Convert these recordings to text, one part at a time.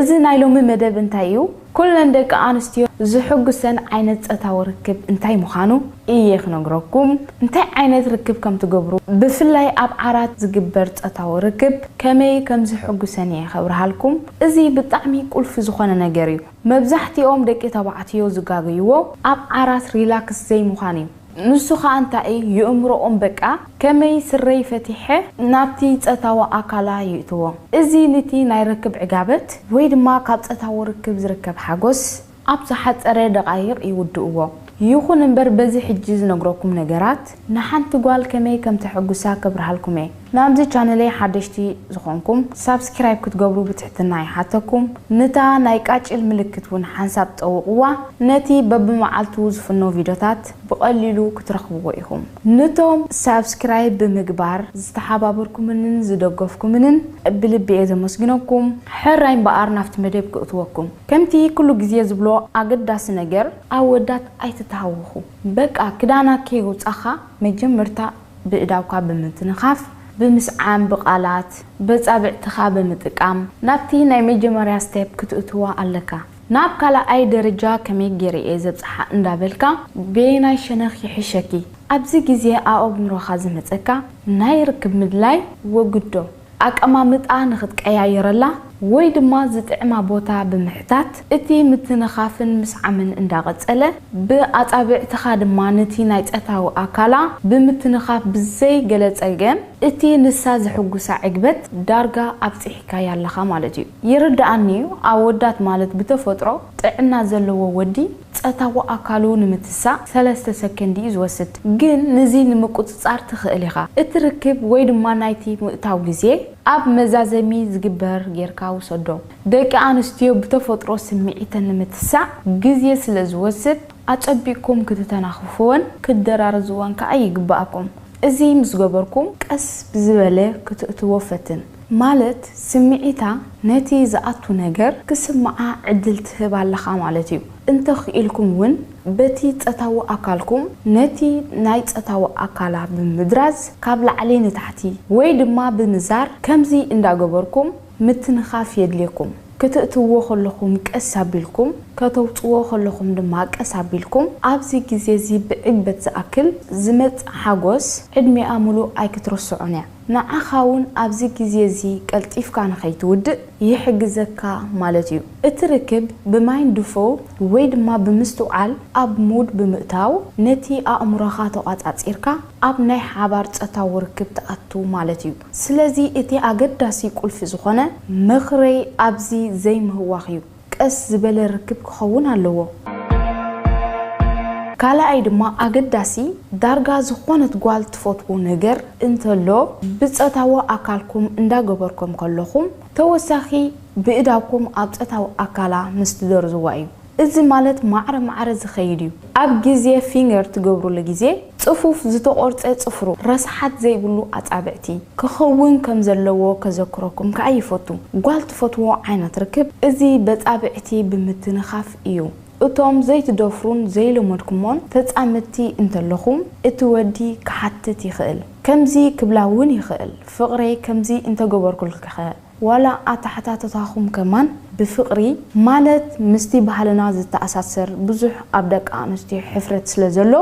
እዚ ናይ ሎሚ መደብ እንታይ እዩ ኩለን ደቂ ኣንስትዮ ዝሕጉሰን ዓይነት ጸታዊ ርክብ እንታይ ምኻኑ እየ ክነግረኩም እንታይ ዓይነት ርክብ ከም ትገብሩ ብፍላይ ኣብ ዓራት ዝግበር ጸታዊ ርክብ ከመይ ከም ዝሕጉሰን እየ ከብርሃልኩም እዚ ብጣዕሚ ቁልፊ ዝኾነ ነገር እዩ መብዛሕቲኦም ደቂ ተባዕትዮ ዝጋገይዎ ኣብ ዓራት ሪላክስ ዘይምዃን እዩ ንሱ ከኣ እንታይ እዩ ይእምሮኦም በቃ ከመይ ስረይ ፈቲሐ ናብቲ ጸታዊ ኣካላ ይእትዎ እዚ ንቲ ናይ ርክብ ዕጋበት ወይ ድማ ካብ ጸታዊ ርክብ ዝርከብ ሓጎስ ኣብ ዝሓጸረ ደቓይቕ ይውድእዎ ይኹን እምበር በዚ ሕጂ ዝነግረኩም ነገራት ንሓንቲ ጓል ከመይ ከም ተሕጉሳ ከብርሃልኩም እየ ናብዚ ቻነለይ ሓደሽቲ ዝኮንኩም ሳብስኪራይብ ክትገብሩ ብትሕትና ይሓተኩም ንታ ናይ ቃጭል ምልክት ውን ሓንሳብ ጠውቅዋ ነቲ በብመዓልቱ ዝፍኖ ቪዶታት ብቀሊሉ ክትረክብዎ ኢኩም ንቶም ሳብስኪራይብ ብምግባር ዝተሓባበርኩምንን ዝደገፍኩምንን ብልቢ እየ ዘመስግነኩም ሕራይ እምበኣር ናብቲ መደብ ክእትወኩም ከምቲ ኩሉ ግዜ ዝብሎ ኣገዳሲ ነገር ኣወዳት ኣይትተሃወኩ በቃ ክዳና ከየውጻካ መጀመርታ ብእዳውካ ብምትንኻፍ፣ ብምስዓም፣ ብቃላት፣ በጻብዕትኻ ብምጥቃም ናብቲ ናይ መጀመርያ step ክትእትዋ ኣለካ። ናብ ካላኣይ ደረጃ ከመይ ጌረ እየ ዘብጽሓ እንዳበልካ በየናይ ሸነኽ ይሕሸኪ ኣብዚ ግዜ ኣኦምሮኻ ዝመጸካ ናይ ርክብ ምድላይ ወግዶ። ኣቀማምጣ ንክትቀያይረላ ወይ ድማ ዝጥዕማ ቦታ ብምሕታት፣ እቲ ምትንኻፍን ምስዓምን እንዳቐጸለ፣ ብኣጻብዕትኻ ድማ ነቲ ናይ ጸታዊ ኣካላ ብምትንኻፍ ብዘይ ገለ ጸገም እቲ ንሳ ዘሕጉሳ ዕግበት ዳርጋ ኣብጺሒካያ ኣለኻ ማለት እዩ። ይርደኣኒ'ዩ ኣወዳት ማለት ብተፈጥሮ ጥዕና ዘለዎ ወዲ፣ ጸታዊ ኣካሉ ንምትሳእ ሰለስተ ሰከንድ እዩ ዝወስድ፣ ግን ንዚ ንምቁጽጻር ትኽእል ኢኻ። እቲ ርክብ ወይ ድማ ናይቲ ምእታው ግዜ ኣብ መዛዘሚ ዝግበር ጌርካ ውሰዶ። ደቂ ኣንስትዮ ብተፈጥሮ ስምዒተን ንምትሳእ ግዜ ስለ ዝወስድ ኣጸቢቕኩም ክትተናኽፍወን ክትደራርዝወን ከኣ ይግበኣኩም። እዚ ምስ ገበርኩም ቀስ ብዝበለ ክትእትዎ ፈትን። ማለት ስምዒታ ነቲ ዝኣቱ ነገር ክስምዓ ዕድል ትህብ ኣለኻ ማለት እዩ። እንተ ኽኢልኩም እውን በቲ ጸታዊ ኣካልኩም ነቲ ናይ ጸታዊ ኣካላ ብምድራዝ ካብ ላዕሊ ንታሕቲ ወይ ድማ ብምዛር ከምዚ እንዳ ገበርኩም ምትንኻፍ የድልየኩም። ክትእትውዎ ከለኹም ቀስ ኣቢልኩም ከተውጽዎ ከለኹም ድማ ቀስ ኣቢልኩም ኣብዚ ግዜ እዚ ብዕግበት ዝኣክል ዝመጽእ ሓጎስ ዕድሜኣ ምሉእ ኣይክትርስዖን እያ። ንዓኻውን ኣብዚ ግዜ እዚ ቀልጢፍካ ንኸይትውድእ ይሕግዘካ ማለት እዩ። እቲ ርክብ ብማይንድፉል ወይ ድማ ብምስትውዓል ኣብ ሙድ ብምእታው ነቲ ኣእምሮኻ ተቛጻጺርካ ኣብ ናይ ሓባር ጸታዊ ርክብ ትኣቱ ማለት እዩ። ስለዚ እቲ ኣገዳሲ ቁልፊ ዝኾነ ምኽረይ ኣብዚ ዘይምህዋኽ እዩ። ቀስ ዝበለ ርክብ ክኸውን ኣለዎ። ካልኣይ ድማ ኣገዳሲ፣ ዳርጋ ዝኾነት ጓል ትፈትዎ ነገር እንተሎ ብጸታዊ ኣካልኩም እንዳገበርኩም ከለኹም ተወሳኺ ብእዳውኩም ኣብ ጸታዊ ኣካላ ምስ ትደርዝዋ እዩ። እዚ ማለት ማዕረ ማዕረ ዝኸይድ እዩ። ኣብ ግዜ ፊንገር ትገብሩሉ ግዜ ጽፉፍ ዝተቖርጸ ጽፍሩ፣ ረስሓት ዘይብሉ ኣጻብዕቲ፣ ክኸውን ከም ዘለዎ ከዘክረኩም ከኣ ይፈቱ። ጓል ትፈትዎ ዓይነት ርክብ እዚ በጻብዕቲ ብምትንኻፍ እዩ። እቶም ዘይትደፍሩን ዘይለመድኩሞን ተጻምድቲ እንተለኹም እቲ ወዲ ክሓትት ይኽእል። ከምዚ ክብላ እውን ይኽእል፣ ፍቕረይ ከምዚ እንተገበርኩልኪኸ? ዋላ ኣተሓታትታኹም ከማን ብፍቅሪ ማለት ምስቲ ባህልና ዝተኣሳሰር ብዙሕ ኣብ ደቂ ኣንስትዮ ሕፍረት ስለ ዘሎ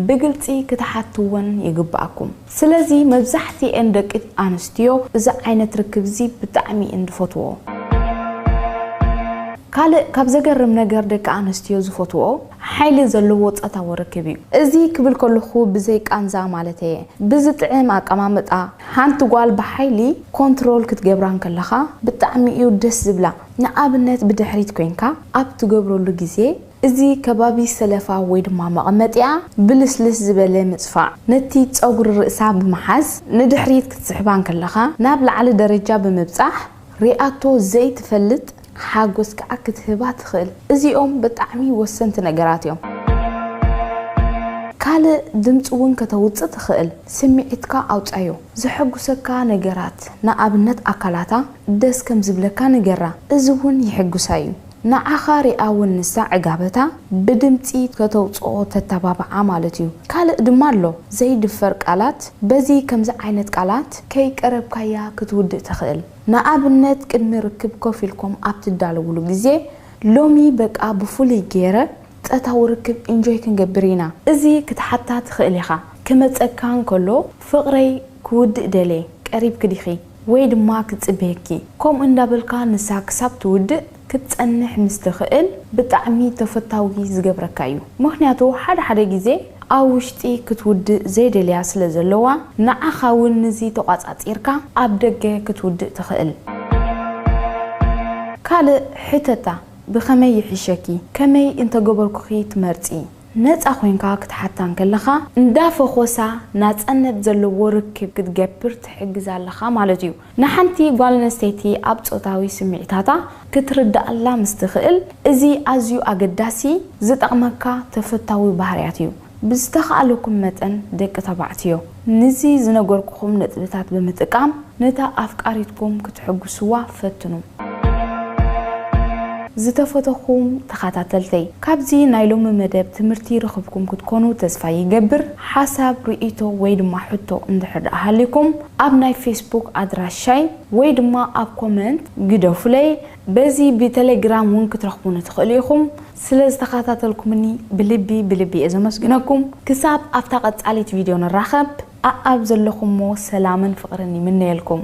ብግልጺ ክትሓትወን ይግብኣኩም ስለዚ መብዛሕቲኤን ደቂ ኣንስትዮ እዚ ዓይነት ርክብዚ ብጣዕሚ እየን ዝፈትወኦ። ካልእ ካብ ዘገርም ነገር ደቂ ኣንስትዮ ዝፈትወኦ ሓይሊ ዘለዎ ጸታዊ ርክብ እዩ እዚ ክብል ከለኹ ብዘይ ቃንዛ ማለተይየ ብዝጥዕም ኣቀማምጣ ሓንቲ ጓል ብሓይሊ ኮንትሮል ክትገብራ እንከለኻ ብጣዕሚ እዩ ደስ ዝብላ ንኣብነት ብድሕሪት ኮይንካ ኣብ ትገብረሉ ግዜ እዚ ከባቢ ሰለፋ ወይ ድማ መቐመጢኣ ብልስልስ ዝበለ ምጽፋዕ ነቲ ጸጉሪ ርእሳ ብምሓዝ ንድሕሪት ክትስሕባ እንከለኻ ናብ ላዕሊ ደረጃ ብምብጻሕ ሪኣቶ ዘይትፈልጥ ሓጎስ ከኣ ክትህባ ትኽእል። እዚኦም ብጣዕሚ ወሰንቲ ነገራት እዮም። ካልእ ድምጺ ውን ከተውጽእ ትኽእል። ስምዒትካ ኣውጻዮ። ዘሐጉሰካ ነገራት ንኣብነት ኣካላታ ደስ ከም ዝብለካ ንገራ። እዚ ውን ይሕጉሳ እዩ። ንዓኻ ሪኣ ውን ንሳ ዕጋበታ ብድምጺ ከተውጽኦ ተተባብዓ ማለት እዩ። ካልእ ድማ ኣሎ ዘይድፈር ቃላት። በዚ ከምዚ ዓይነት ቃላት ከይቀረብካያ ክትውድእ ትኽእል። ንኣብነት ቅድሚ ርክብ ኮፍ ኢልኩም ኣብ ትዳለዉሉ ግዜ ሎሚ በቃ ብፍሉይ ጌረ ጸታዊ ርክብ ኢንጆይ ክንገብር ኢና እዚ ክትሓታ ትኽእል ኢኻ። ክመጸካ እንከሎ ፍቕረይ ክውድእ ደልየ ቀሪብኪ ዲኺ ወይ ድማ ክጽበየኪ ከምኡ እንዳበልካ ንሳ ክሳብ ትውድእ ክትጸንሕ ምስ ትኽእል ብጣዕሚ ተፈታዊ ዝገብረካ እዩ ምኽንያቱ ሓደ ሓደ ግዜ ኣብ ውሽጢ ክትውድእ ዘይደልያ ስለ ዘለዋ ንዓኻ ውን ንዚ ተቋጻጺርካ ኣብ ደገ ክትውድእ ትኽእል። ካልእ ሕተታ ብኸመይ ይሕሸኪ ከመይ እንተገበርኩኺ ትመርጺ ነጻ ኮይንካ ክትሓታ እንከለኻ እንዳ ፈኾሳ ናጸነት ዘለዎ ርክብ ክትገብር ትሕግዛ ኣለኻ ማለት እዩ። ንሓንቲ ጓል ኣንስተይቲ ኣብ ጾታዊ ስምዒታታ ክትርድኣላ ምስ ትኽእል፣ እዚ ኣዝዩ ኣገዳሲ፣ ዝጠቕመካ ተፈታዊ ባህርያት እዩ። ብዝተኻእለኩም መጠን ደቂ ተባዕትዮ፣ ንዚ ዝነገርኩኹም ነጥብታት ብምጥቃም ነታ ኣፍቃሪትኩም ክትሕጉስዋ ፈትኑ። ዝተፈተኹም ተኻታተልተይ፣ ካብዚ ናይ ሎሚ መደብ ትምህርቲ ረኽብኩም ክትኮኑ ተስፋ ይገብር። ሓሳብ፣ ርእይቶ ወይ ድማ ሕቶ እንድሕር ደኣ ሃልዩኩም፣ ኣብ ናይ ፌስቡክ ኣድራሻይ ወይ ድማ ኣብ ኮመንት ግደፉለይ በዚ ብተሌግራም ውን ክትረኽቡኒ ትኽእሉ ኢኹም። ስለ ዝተኸታተልኩምኒ ብልቢ ብልቢ እየ ዘመስግነኩም። ክሳብ ኣብታ ቀጻሊት ቪድዮ ንራኸብ ኣኣብ ዘለኹሞ ሰላምን ፍቕርን ይምነየልኩም።